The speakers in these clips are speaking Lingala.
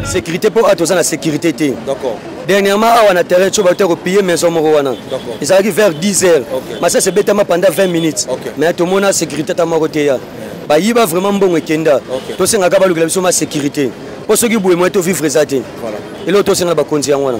sécurité mpo awa toza na sécurité te dernièrement awa na terrain tio bauta kopille maison moko wana ezalaki vers 10 heures masasi ebetama pendant 20 minutes mais tomona sécurité ata moko te ya bayiba vraiment mbongo ekenda tosengaka balukela biso ma sécurité mpo soki boye moye tovivre eza te eloko tosengaka bakonzi yango wana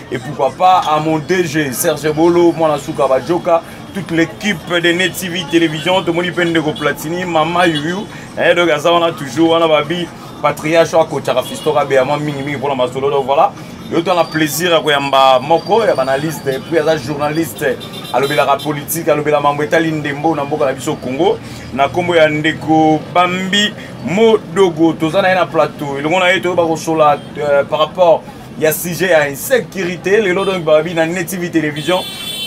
et pourquoi pas à mon DG Serge Bolo mwana suka bajoka toute l'équipe de Net TV Télévision tomoni mpe ndeko Platini mama yuyu eh, donc aza wana toujours wana babi patriarche oyo akotaka fisto kabeya mwa mingimingi mpona masolo donc voilà yo tana plaisir ya koyamba moko ya banalyste puis aza journaliste alobelaka politike alobela mambo etali ndembo na mboka na biso congo na nkombo ya ndeko bambi modogo toza na ye na plateau elongo na ye toyeba kosola euh, par rapport ya sujet ya insécurité lelo donc babi na net tv télévision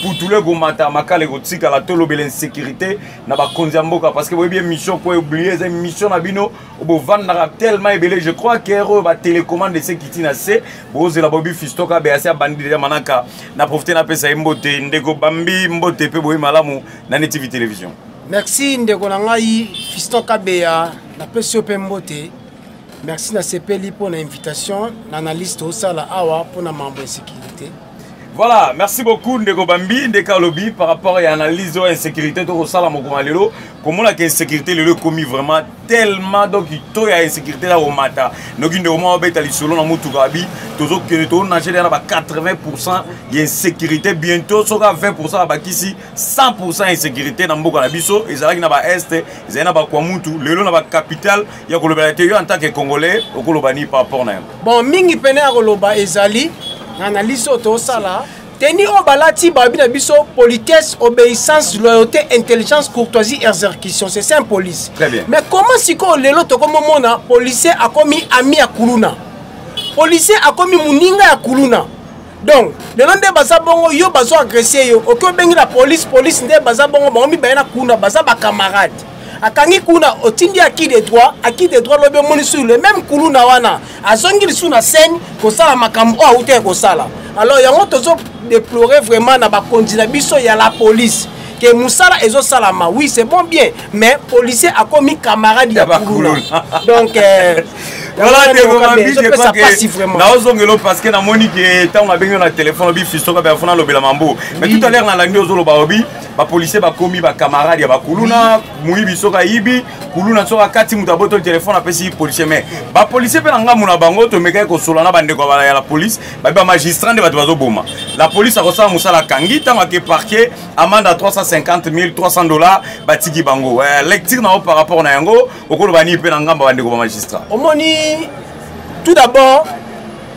putulu ekomata makala ekotikala tolobela insécurité na bakonzi ya mboka parce que boyebi émission po eblie eza émission na bino bovandaka tellement ebele je crois que oyo batelécommande ese kiti na se bozela boyebi fistoka beasi abandi deja manaka na profite napesa ye mbote ndeko bambi mbote mpe boye malamu na net tv télévision merci ndeko na ngai fistoka beya napesi yo mpe mbote merci nasepeli mpo na invitation na analyse tosala awa mpo na mambo insécurité voilà merci beaucoup ndeko bambi ndeke alobi par rapport ya analyse oyo insécurité tokosala mokoma lelo komonaka insécurité lelo ekomi vraiment tellement donc to ya insécurité ya komata noki ndeko mwa obeta lisolo na motuka abi tozokende toonage na ba 80 pourcent ya insécurité bientôt soka 20 pourcent abakisi 100 pourcent ya insécurité na mboka na biso ezalaki na baeste ezali na bakwamutu lelo na bacapital ya kolobela te yo en tant que congolais okoloba ni par rapport na yango bon mingi pene ya koloba ezali na analyse oyo tosala teni oyo balati babi na biso politesse obéissance loyauté intelligence courtoisie exercution c'est ça police mais comment sikoyo lelo tokomomona policier akomi ami ya kuluna policier akomi moninga ya kuluna donc lelo nde baza bongo yo bazo agresse yo oke obengi na polise polise nde baza bongo bango mibale na kuna baza bacamarade akangi kuna otindi aki de droit aki de droit lobi omoni sur le même kuluna wana azongi lisusu na scène kosala makambo oyo auta ya kosala alors yango tozo deplore vraiment na bakonzi na biso ya la police ke musala ezo salama oui c'est bon bien mais policier akomi camarade ya bakuluna donc euh, voilà ndeko mabi je crois que naozongela o parce que namoni ke ntango nabengi yo na telefone obi fistoka mpe afuna alobela mambo mais tout à l'heure nalandi ozoloba obi bapolisier bakomi bacamarade ya bakuluna moyibi soki ayibi kuluna soki akati moto abotoli telefone apesi policier mais bapolisier mpe na ngambo na bango tomekaki kosolola na bandeko ya la police babi bamagistrat nde bato bazoboma la polise akosala mosala akangi ntango ake parke amande ya 350 300 dollar batiki bango eh, lecture na yo par rapport na yango okoloba nini mpe na ngambo bandeko bamagistrat omoni tout d'abord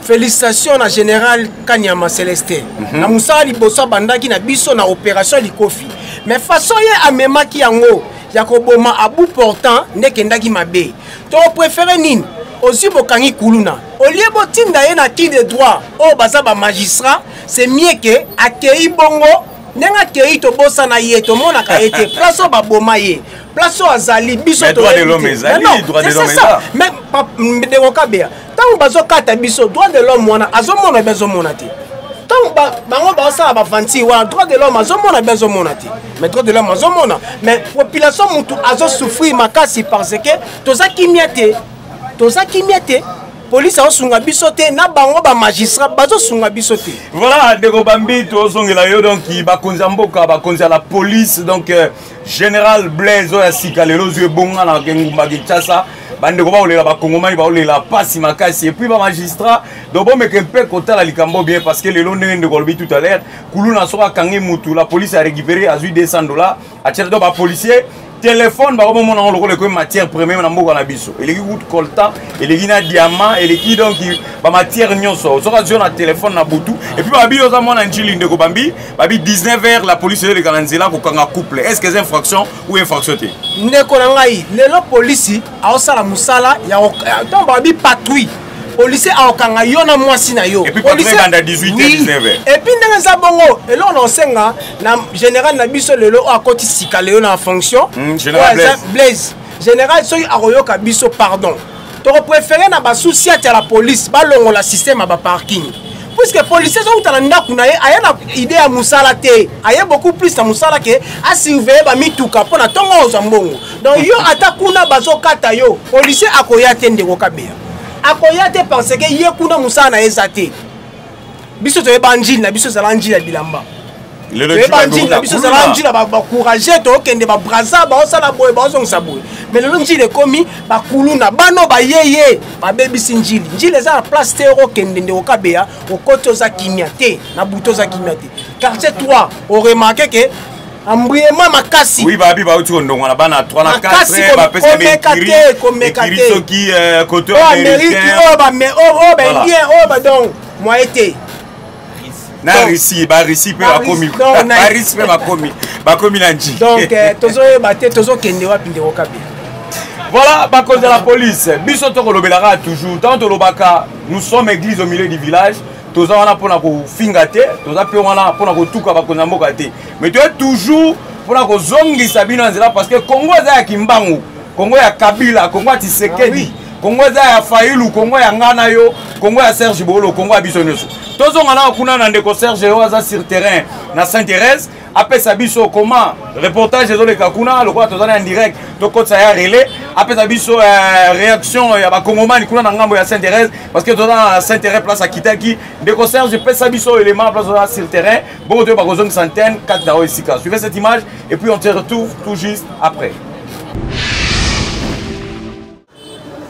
félicitation na général kanyama célestin mm -hmm. na mosala liboso abandaki na biso na opération likofi mais façon ye amemaki yango ya koboma abu portant nde ekendaki mabe toprefere nini ozwi bokangi kuluna olie botinda ye na qui de droit oyo oh, baza bamagistrat c'est mieux ke akei bongo ndenge akei tobosana ye tomonaka ye te place oyo baboma ye place oyo azali biso toyebi te mais ndeko kabea ntango bazokata biso droit de l'homme wana azomona be azomona te ntango bango baosala bavanti wana droit de l'homme azomona be azomona te mais droit de l'homme azomona mais population motu azosouffrir makasi parce que toza kimia te toza kimia te polisi aosunga biso te na bango bamagistrat bazosunga biso te voilà ndeko bambi tozongela yo donc bakonzi ya mboka bakonzi ya la police donc euh, general blaise oyo ya sika lelo ozwi ebonga na engumba kinshasa bandeko baolela bakongomani baolela mpasi makasi epuis bamagistrat donc bomeke mpe kotala likambo bien parce que lelo ndenge ndeko alobi tout à l'heure kuluna soko akangi mutu la police a récupéré azwi 200 dollars atiaki donc bapolicier telefone bango bomona yango lokola ekomi matière première na mboka na biso eleki kutu coltan eleki na diamant eleki donc bamatière nyonso soki azwi yo na telefone na butu epuis babi oza mwana njili ndeko bambi babi 19 heures la police eleka na nzela kokanga couple est ce que eza infraction ou infraction te ndeko na ngai lelo polisi aosala mosala ntango babi patrouille policier akokanga yo na mwasi na yo epuis ndenge eza bongo eloko na osenga na général na biso lelo oyo akoti sika lelo na fonction hmm, blaise général soki akoyoka biso pardon toko prefere na basusi atia la police balongola systeme ya baparking puiske policier azouta na ndako na ye aya na ide ya mosala te aye beaucoup plus na mosala ke asurveille bamituka mpo na ntongo ozwa mbongo donc yo ata kuna bazokata yo policier akoya te ndeko kabeya akoya te parce ke ye kuna mosala na ye eza te biso toyeba njili na biso ezala njili ya bilamba toyeba njili na biso ezala njili ya bacourage tookende babraza baosala boye baozongisa boye mais lelo njili ekomi bakuluna bano bayeye babebisi njili njili eza na place te okokende nde okabeya okoti oza kimia te na butu oza kimia te quartier 3 oremarke ke embruyement makasi oui babi bauti kondongwana bana 3 na 4 bapesa te komeka te soki euh, koto oh, amérique oyo oh, bame oyo oh, baindien oyo badong moye te na russie barussie mpe bakomi barussie mpe bakomi bakomi na nji donc euh, tozoyeba te tozokende wapi ndeko kabila voilà bakonzi ya la police biso tokolobelaka toujours ntango tolobaka nous sommes église au milieu du village toza wana mpona kofinga te toza mpe wana mpona kotuka bakonzi ya mboka te mais toye toujours mpona kozongisa bino na nzela parce que congo eza ya kimbangu congo ya kabila congo ya tisekedi ah, oui. congo eza ya failu congo ya ngai na yo congo ya serge boolo congo ya biso nyonso tozonga nao kuna na ndeko serge oyo aza sur terrain na saint thérèse apesa biso koma reportage ezoleka kuna lokola toza na indirect tokotisa ya relais apesa biso uh, réaction ya bakongomani kuna na ngambo ya saint thérèse parce que toza na saint thérèse place akitaki ndeko serge pesa biso élément place oza sur terrain Bongo toyeba kozongisa antenne kati na oyo esika. Suivez cette image et puis on se retrouve tout juste après.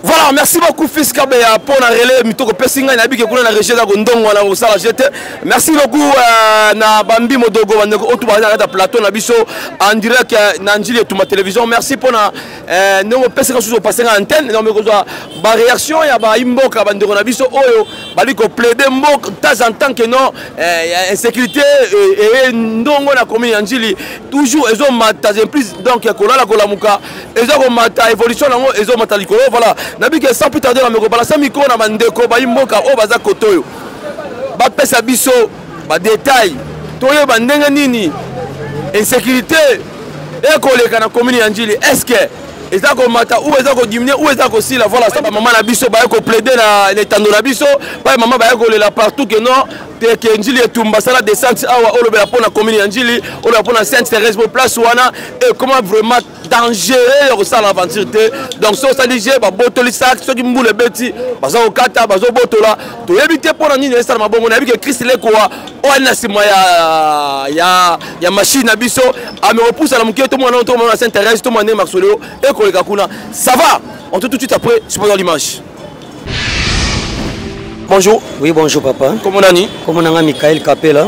voilà merci beaucoup fils kabeya mpo na relais mitoko pesi ngai nayebike kuna na régie yako ndongo na kosala je te merci beaucoup euh, na bambi modogo bandeko oyo tobazali na kati ya plateau na biso en direct euh, na njili etuma télévision merci mpo na Eh, ndenge opesaka susu opase nga antenne na mekozwa baréaction ya baimboka bandeko na biso oyo bali koplaide mboka temps en temps que non eh, insécurité eh, eye ndongo na commune ya njili toujours ezomata plus donc kolala kolamuka eza komata évolution yango ezomata likolo voilà nabike sans plus tarde na mekobala sa mikolo na bandeko baimboka oyo baza kote oyo bapesa biso ba detail toyeba ndenge nini insécurité ekoleka na commune ya njili est ce que eza komata ou eza kodiminue ou eza kosila voilà sa bamama na biso baye koplaide na etando na biso baye mama baye kolela partout ke non teke njili etumba sala descente awa olobela mpo na commune ya njili olobela mpo na sainte thérèse mpo place wana ekoma vraiment dangereux ya kosala aventure te donc soki osali je babotoli saki soki mbula ebeti baza kokata bazobotola toyebi te mpo na nini esala mabongo nayebi ke krist lekoa oyo ali na nsima ya, ya, ya mashine na biso amekopusa na moke tomona nao tomona na saint therese tomona ndenge masoleo ekoleka kuna ça va on te tout de suite après supposant l'image Bonjour. Oui, bonjour papa. Comment on est Comment on est Michael Capella.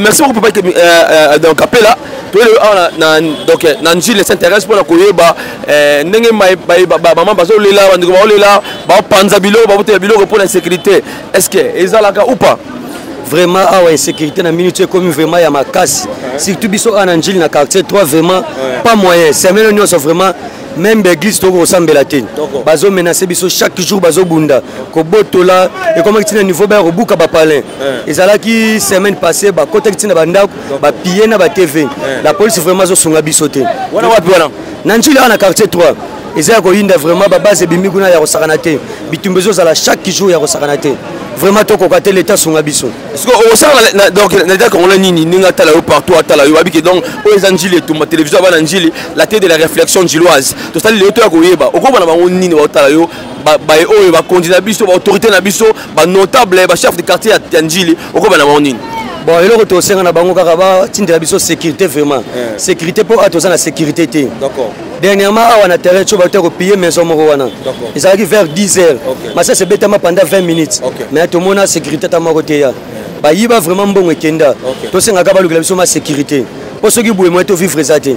Merci beaucoup papa euh, euh, donc Capella. Ah, donc euh, na njili s'intéresse mpona koyeba ndenge bamama bazolela bandeko baolela bapanza biloko babotela biloko mpona insécurité est ce que ezalaka ou pas vraiment awa insécurité na minute ekomi vraiment ya makasi surtout biso awa na njili na quartier 3 vraiment pas moyen semaine nyonso vraiment meme baeglise tokoki kosambela te bazo menase biso chaque jour bazobunda kobotola ekomaki ntina niveau baya kobuka bapalin eh. ezalaki semaine passé bakotaki ntina bandako bapille na batv eh. la police vraiment azosunga biso te wana wapi wana na njili awa na quartier 3 eza ya koyinda vraiment babase ebimi kuna ya kosakana te bitumba ezozala chaque jour ya kosakana te vraiment tokoka te leta asunga biso siko okosala na donc na leta congolais nini ndenge atala yo partout atala yo babike donc oyo eza njili etumba télévision abana njili la tete de la réflexion njiloise tosali lelo toya koyeba okoba na bango nini baotala yo baye oyo bakonzi na biso baautorité na biso banotable bachef de quartier ya njili okoba na bango nini bon eloko tosenga na bango kaka batindela biso sécurité vraiment sécurité mpo awa toza na sécurité te dernièrement awa na terrain tio bauta kopille maison moko wana ezalaki vers 10 heures masasi ebetama pendant 20 minutes mais tomona sécurité ta moko teya bayiba vraiment mbongo ekenda tosengaka balukela biso ma sécurité mpo soki boye moye tovivre eza te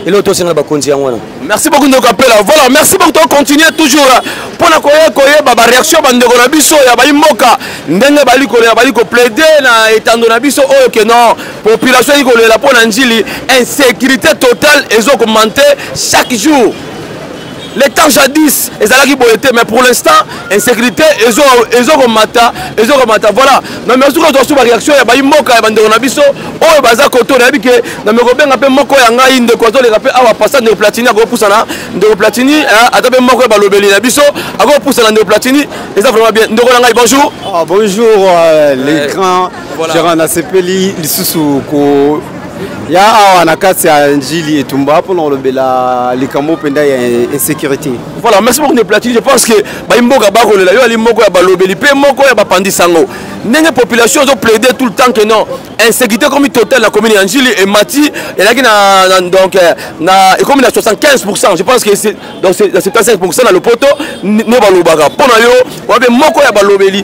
eloko tosengela bakonzi yango wana merci beaucoup ndeko apela voilà merci beaucoup tocontinue toujours mpo na koya koyeba bareaction bandeko na biso ya bayi mboka ndenge bali kolela bali koplaide na etando na biso oyo ke non population ezali kolela mpo na njili insécurité totale ezo augmente chaque jour le temps jadis ezalaki boye te mais pour l'instant insécurité ezo ezo komata ezo komata voilà na merci ko tosu ba réaction ya bayi mboka ya bandeko na biso oyo baza koto na bike na me kobenga pe moko ya ngai ndeko azo leka pe awa passa ndeko platini ako pusana ndeko platini eh, ata pe moko ya balobeli na biso ako pusana ndeko platini eza vraiment bien ndeko na ngai bonjour ah, bonjour euh, les grands Voilà. Gérant, nasepeli lisusu ko ya awa na kati ya njili etumba mpona kolobela likambo mpenza ya insécurité voilà merci beaucoup ne platine je pense que bayi mboka bakolela yo ali moko ya balobeli mpe moko ya bapandi sango ndenge population ezo plaide tout le temps que non insécurité ekomi totale na commune ya njili emati elaki na, na donc euh, na ekomi na 75 pourcent je pense que donc na 75 pourcent na lopoto nde balobaka mpo na yo wape moko ya balobeli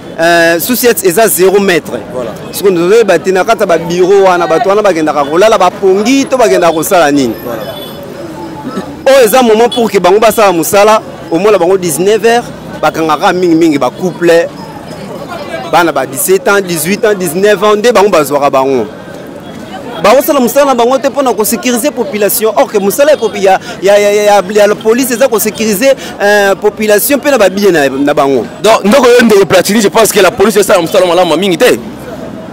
Euh, susiet eza 0 mètre soko tozoyeba te na kati ya babiro wana bato wana bakendaka kolala bapongi to bakendaka kosala nini oyo eza moment pour ke bango basala mosala omona bango 19 heures bakangaka mingimingi bacouple bana ba 17 ans 18 ans 19 ans nde bango bazwaka bango bakosala mosala na bango te mpo na kosécurise population or ke mosala ya, ya, ya, ya, ya la police eza kosécurise euh, population mpe na babiye na, na bango donc ndoko yo ndeko platini je pense que la police esala mosala malamu mingi te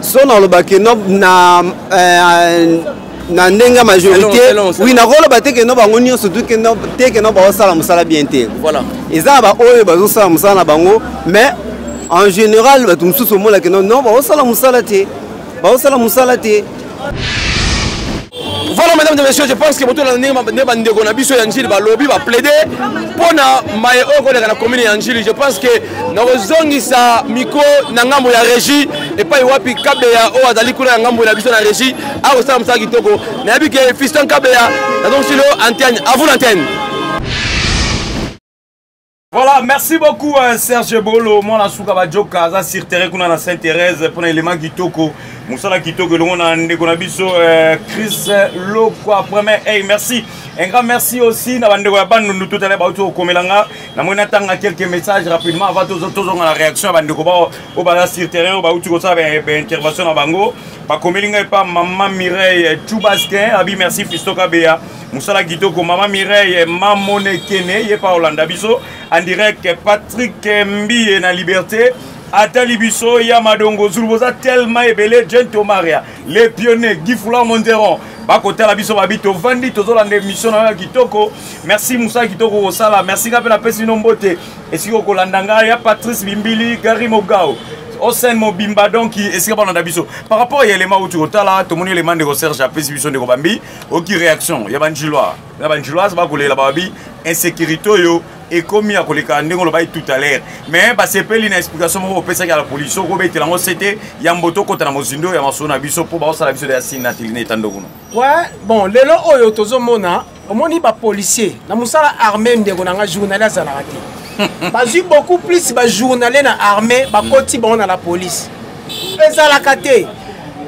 so nalobaki no na euh, na ndenge ya majorité wi nakoloba te keno bango nyonso te keno bakosala mosala bien te eza na baoyo bazosala mosala na bango mais en général bato mosusu omonakeno no bakosala mosala te baosala mosala te voilà madame de monsieur je pense que botolana ndenge bandeko na biso ya njili balobi baplaide mpo na maye oyo koleka na commune ya njili je pense que nakozongisa miko na ngambo ya régie epai wapi kabeya oyo azali kuna ya ngambo na biso na régie akosala mosala kitoko nayebi ke fiston kabeya nazongisi lo antenne à vous l'antenne Voilà, merci beaucoup euh, Serge Bolo, mwana suka bajoka aza sur terrain kuna na Sainte Thérèse pona element kitoko, musala kitoko elongo na ndeko na biso euh, Chris Lokwa premier. Hey, merci. Un grand merci aussi na bandeko ya Bandundu tout à l'heure bauti okomela nga na mona tanga quelques messages rapidement avant tozo tozo na réaction ya bandeko ba au bala sur terrain bauti ko sa ben intervention na bango. Bakomeli nga epa maman Mireille Chubaskin, abi merci Fistoka Bea. mosala kitoko mama mireille mamonekene ye pa olanda biso en direct patrick mbiye na liberté atali biso ya madongo zulu boza tellement ebele jeune tomaria le pionnier guy foulard monderon bakotala biso babi tovandi tozolanda émission na yo ya kitoko merci mosala kitoko kosala merci nga mpe napesi bino mbote esika okolanda ngai ya patrice bimbili gari mogao osen mobimba donki esika balanda biso par rapport ya elema uti kotala tomoni elema ndeko serge apesi biso ndeko bambi oki réaction ya banjilois na banjiloise bakolela babi insécurité oyo ekomi ya koleka ndenge olobaki tout à l'heure mais basepeli na explication moko opesaki ya la polisi oko obetela yango sete ya mboto okota na mozindo ya masolo na biso mpo baosala biso deya sini na telina etando kuna ouais bon lelo oyo tozomona omoni bapolicier na mosala armé ndeko na ngai journali azalaka te bazwi beaucoup plus bajournalier na armé bakoti bango na la police ezalaka te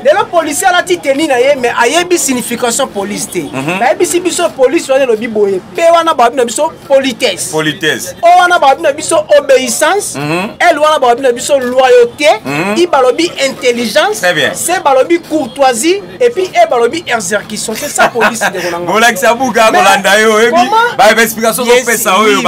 lelo policier alati teni na ye mais ayebi signification police te mhm. bayebisi biso police wana elobi boye mpe wana babi na biso politesse politesse o wana babi na biso obéissance mhm. l wana babi na biso loyauté mhm. i balobi intelligence se balobi courtoisie et puis e balobi exercition c'est ça police ndeko nanga bolakisa buka kolanda yo oyebi baexplication kopesa oyo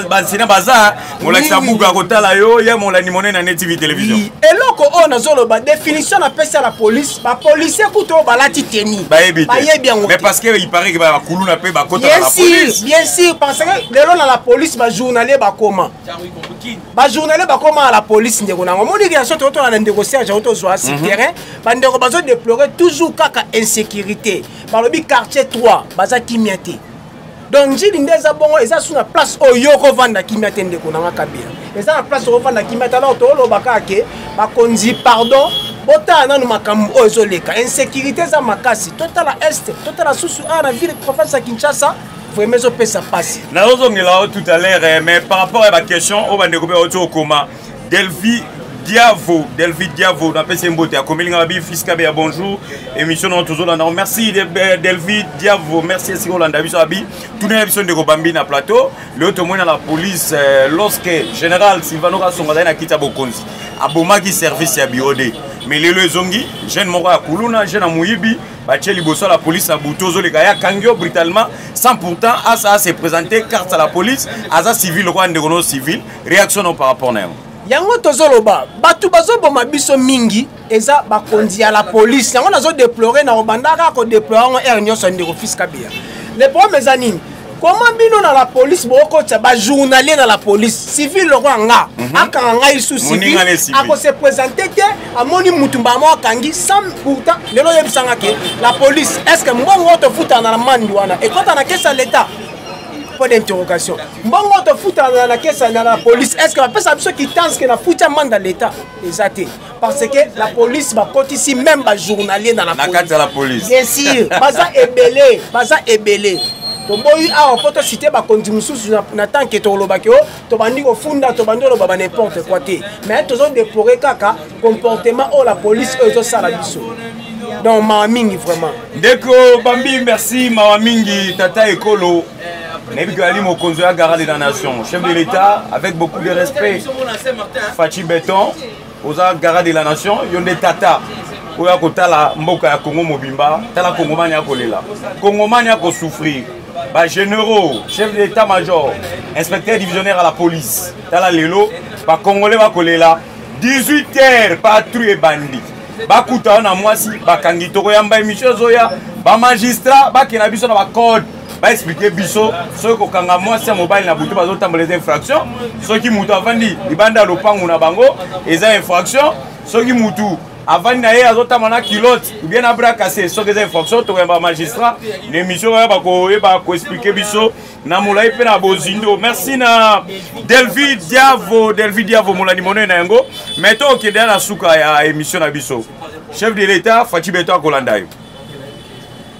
basina baza molakisa buku akotala yo ya molandi monene ya netv television eloko oyo nazoloba définition napesi ya la police bapolisie kutu oyo balati teni bayebi yango mais parce que il paraît que bakuluna mpe bakotaka la police bien sûr parce que lelo na la police bajournalier bakoma bajournalier bakoma na la police ndeko nango omoni relation tokotona na ndeko serge oyo tozwa si mhm. terrain bandeko bazodeplore toujours kaka insécurité balobi quartier 3 baza kimia te donc njili nde eza bongo eza su na place oyo okovanda kimia te ndeko nanga kabila eza na place okovanda kimia te alors tooloba kaka ke bakonzi pardon botala nanu makambo oyo ezoleka insécurité eza makasi totala este totala susu awa na ville province ya kinshasa vraiment ezopesa mpasi nazozongela yo tout à l'heure eh, mais par rapport ya baquestion oyo bandeko mpe auti okoma delvi diavo delvi diavo napesi ye mbote akomeli ngai babi fiskabe ya bonjour émission nao tozolanda yango merci delvi diavo merci esika olanda biso abi tunela biso ndeko bambi na plateau leo tomoni na la police euh, lorsque général silvano kasongo azali na kiti ya bokonzi abomaki service ya biode mais lelo ezongi jeune moko ya kuluna jeune ya moyibi batie liboso ya la police na butu ozoleka ye akangi yo brutalement sans pourtant asa se présente carte ya la police aza civil lokola ndeko nao civil reaction no par rapport na yango yango tozoloba bato bazoboma biso mingi eza bakonzi ya la polise yango nazodeplore na obandaka kodeplore yango ere nyonso ndeko fils kabila le problème eza nini koma bino na la police bokotisa bajournalier na la police civil lokola nga mhm. akanga ngai su civil akose présente te amoni mutu mbala moko akangi sans pourtant lelo oyebisanga ke la police est ce que mbongo oyo tofutana na mandi wana ekota na kesi ya leta point d'interrogation mbongo tofutana na kesa na la police est ce que bapesa biso kitance ke nafuti amanda leta eza te parce que la police bakotisi même bajournalier na la police bien sûr baza ebele baza ebele toboyi awa mpo tosite bakonzi mosusu na temps ke tokolobaki o tobandi kofunda tobandi oloba ba n'importe quoi te mais tozodeplore kaka comportement oyo la police oyo ezosala biso donc mawa mingi vraiment ndeko bambi merci mawa mingi tata ekolo Nayebi Ali Mokonzo ya Gara de la Nation, chef de l'État, avec beaucoup de respect. Fatih Beton, oza Gara de la Nation, yonde Tata. oyo akotala mboka ya congo mobimba tala kongomani akolela kongomani akosouffrir bagénéraux chef de l'état major inspecteur divisionnaire à la police tala lelo bacongolais bakolela 18 heures patrouille ebandi bakutana na mwasi bakangi tokoyamba emission ezoya bamagistrat bakenda biso na bacode baexplike biso soki kokanga mwasi ya mobali na butu bazotambola eza infraction soki moto avandi libanda ya lopango na bango eza infraction soki motu avandi na ye azotamba na kilote ubien na brakase soki eza infraction tokoyamba magistrat na émission oyo bakoyeba koexplike biso na molai mpe na bozindo merci na delvi diavo delvi diavo molandi monene na yango mai to okende ya na suka ya émission na biso chef de l'état faci beto akolanda yo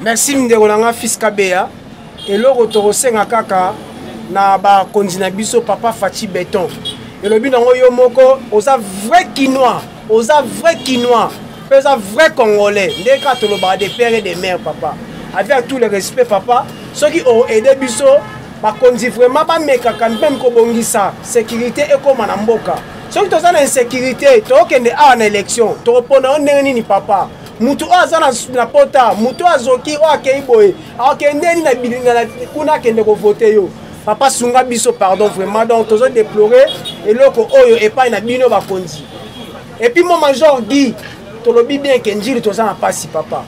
merci mindeko na nga fils kabeya eloko tokosenga kaka na bakonzi na biso papa faci beton elobi nango yo moko oza vrai kinois oza vrai kinois mpe oza vrai congolais nde kaka tolobaka de père et de mère papa avec tout le respect papa soki oaide biso bakonzi vraiment bamekaka mpeme kobongisa sécurité ekóma na mboka soki toza na insécurité tokokende awa na élection tokopona yo ndenge nini papa moto oyo aza na pota moto oyo azoki oyo akei boye akendeni na bilinga kuna akende kovote yo papa sunga biso pardon vraiment donc tozo déplore eloko oyo epai na bino bakonzi epuis mo major gi tolobi bien ke njili toza na mpasi papa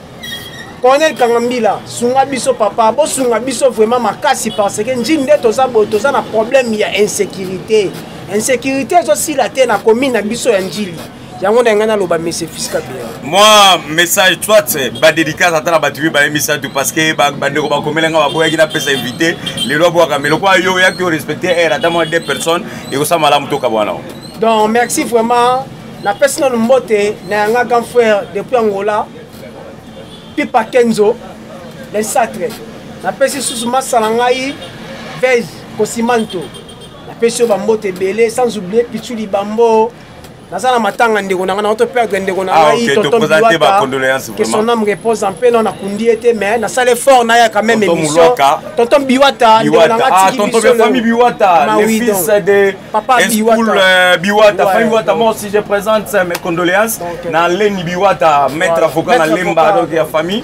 colonel kangambila sunga biso papa bosunga biso vraiment makasi parce que njini nde toza boye toza na problème ya insécurité insécurité ezosila te na commune na biso ya njili yango na ngai naloba mese fiska bien moi message soit badédicace ata na bato mibale misato parce que bandeko bakomela ngai baboyaki napesa invité lelo abwaka me lokola yo oyaki orespecte aire ata mwa deux personnes ekosala malamu tokabwana donc merci vraiment napesi nano mbote na yanga grand frère depuis angola pipa kenzo le satre napesi susu masala ngai vege kosimanto napesi yo bambote ebele sans oublie pichu libambo naza na matanga ndeko na ngai naoto perdre ndeko na ah, ngai tontonbiwatake son ame repose en paix non nakundi ye te mais nasala effort naya quand même émission tonton biwata ndeko na ngai atiki bisopapa biwata famille biwata moi aussi je présente mes condoléances na leni biwata maître avocat na lemba donc ya famille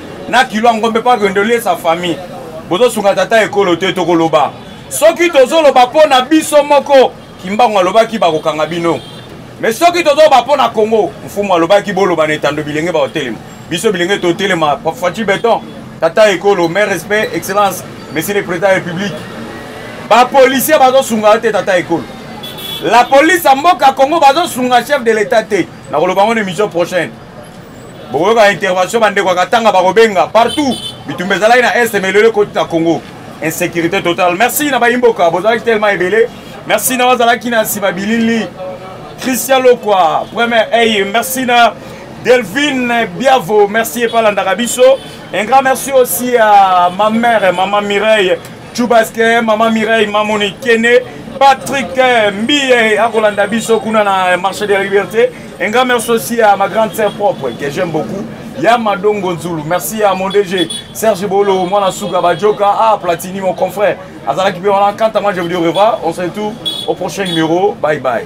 na kilo ya ngombe mpo akende oliesa famille bozosunga tata ekolo te tokoloba soki tozoloba mpo na biso moko kimbangu alobaki bakokanga bino me soki tozoloba mpo na congo mfumu alobaki boloba na etando bilenge bakotelema biso bilenge totelema faci beton tata ekolo mai respect excellence monsieur le président ya république bapolisier bazosunga te tata ekolo la police ya mboka congo bazosunga chef de l'état te nakoloba yango na émission prochaine bokoyoka intervention bandeko ya katanga bakobenga partout bitumba ezalaki na est melelo ekoti na congo insécurité totale merci na bayimboka bozalaki tellement ebele merci na bazalaki na nsima bilili christian lokwa première eye merci na delphine biavo merci epalandaka biso un grand merci aussi à ma mère maman mireille chubaske mama mireille mamoni kene patrick eh, mbiye akolanda biso kuna na marché de la liberté un grand merci aussi à ma grande sœur propre que j'aime beaucoup ya madongo nzulu merci à mon dg serge bolo mwana suka bajoka ah platini mon confrère azalaki mpe wana quant à moi je vous dis au revoir on se retrouve au prochain numéro bye bye